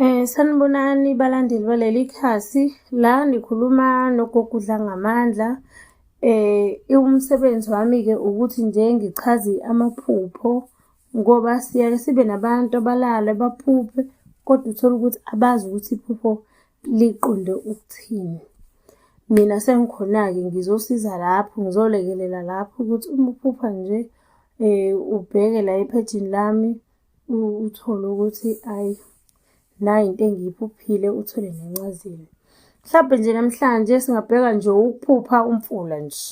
Eh sanibonani balandeli baleli khasi la nikhuluma nogogudla ngamandla eh umsebenzi wami ke ukuthi nje ngichaze amaphupho ngoba siyaye sibe nabantu abalala baphuphe kodwa uthole ukuthi abazi ukuthi iphupho liqonde ukuthini. Mina sengikhona-ke ngizosiza lapho ngizolekelela lapho ukuthi uma uphupha nje ubheke la ephejini lami uthole ukuthi ayi nayi into engiyiphuphile uthole nencazelo mhlawumbe nje namhlanje singabheka nje ukuphupha umfula nje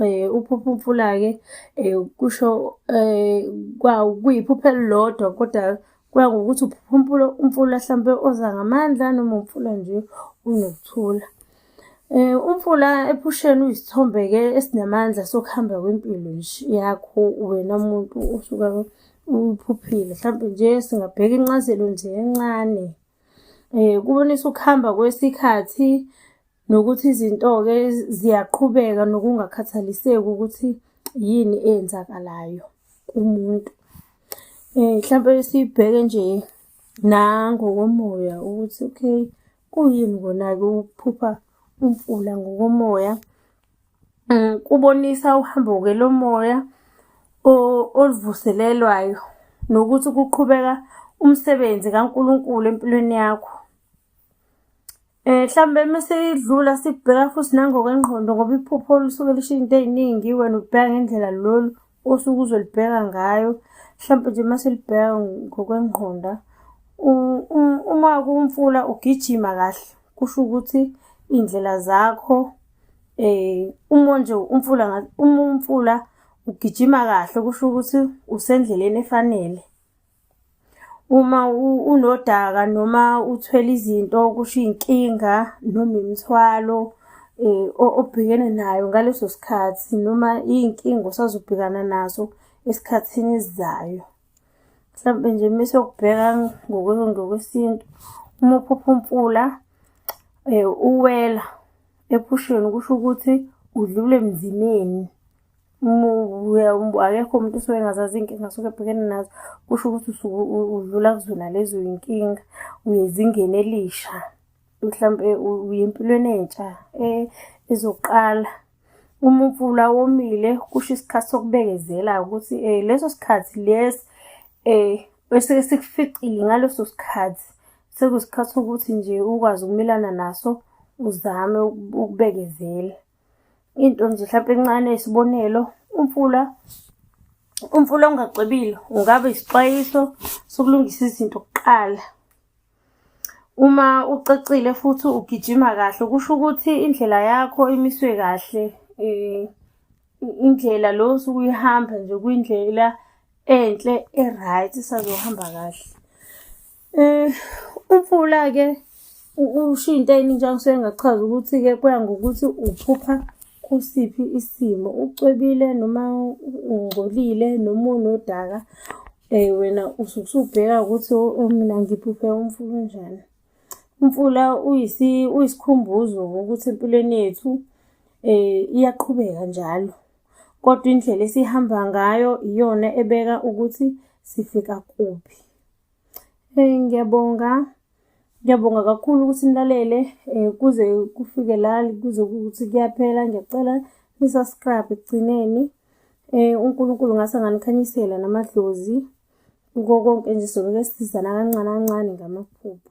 eh uphupha umfula ke eh kusho eh kwa kuyiphupha elilodwa kodwa kuya ngokuthi uphupha umfula umfula mhlawumbe oza ngamandla noma umfula nje unokuthula Eh, umfula ephusheni uyisithombe-ke esinamandla sokuhamba kwempilo nje yakho wena muntu osuka uphuphile mhlawumbe nje singabheka incazelo nje encane eh kubonisa ukuhamba kwesikhathi nokuthi izinto-ke ziyaqhubeka nokungakhathaliseki ukuthi yini eyenzakalayo kumuntu eh mhlawumbe sibheke nje nangokomoya ukuthi okay Kuyini kona-ke ukuphupha umfula ngokomoya? Mm, kubonisa uhambo-ke lomoya oluvuselelwayo nokuthi kuqhubeka umsebenzi kaNkulunkulu empilweni yakho. Um eh, mhlawumbe uma sidlula sibheka futhi nangokwengqondo ngoba iphupho olusuke lisho izinto ey'ningi wena ubheka ngendlela lolu osuke uzolibheka ngayo mhlawumpe nje uma selibheka ngokwengqonda uma kumfula ugijima kahle kusho ukuthi iy'ndlela zakho um uma nje umfula uma umfula ugijima kahle kusho ukuthi usendleleni efanele uma unodaka noma uthwele izinto kusho iy'nkinga noma imithwalo um obhekene nayo ngaleso sikhathi noma iy'nkinga osazobhekana nazo esikhathini esizayo. Mhlampe nje uma siyokubheka ngokwesintu, uma uphupha umfula um uwela ephusheni kusho ukuthi udlule emzimeni akekho umuntu usuke engazazi iy'nkinga suke ebhekene nazo kusho ukuthi usuke udlula kuzona lezo y'nkinga uyezingeni elisha mhlawumbe uye empilweni entsha e, ezoqala uma umfula womile kusho isikhathi sokubekezela ukuthi um leso sikhathi lesi um esuke sikuficile ngaleso sikhathi sekusikhathi sokuthi nje ukwazi ukumelana naso uzame ukubekezela into nje mhlawumbe encane isibonelo umfula umfula ongacwebile ungaba isixwayiso sokulungisa izinto kuqala uma ucacile futhi ugijima kahle kusho ukuthi indlela yakho imiswe kahle eh, indlela lo osuke uyihamba nje kuyindlela enhle e-right isazohamba kahle Eh umfula ke usho into enye njengoba ngisuke ngachaza ukuthi ke kuya ngokuthi uphupha kusiphi isimo ucwebile noma ungcolile noma unodaka eh wena usuke usubheka ukuthi oh, oh, mina ngiphuphe umfula unjani umfula uyisi uyisikhumbuzo ukuthi empilweni yethu eh iyaqhubeka njalo kodwa indlela esihamba ngayo iyona ebeka ukuthi sifika kuphi Eh ngiyabonga. Ngiyabonga kakhulu ukuthi nilalele eh kuze kufike la kuze ukuthi kuyaphela ngiyacela ni subscribe ekugcineni. Eh uNkulunkulu ngase nganikhanyisela namadlozi kuko konke nje soloke sisizana kancane kancane ngamaphupho.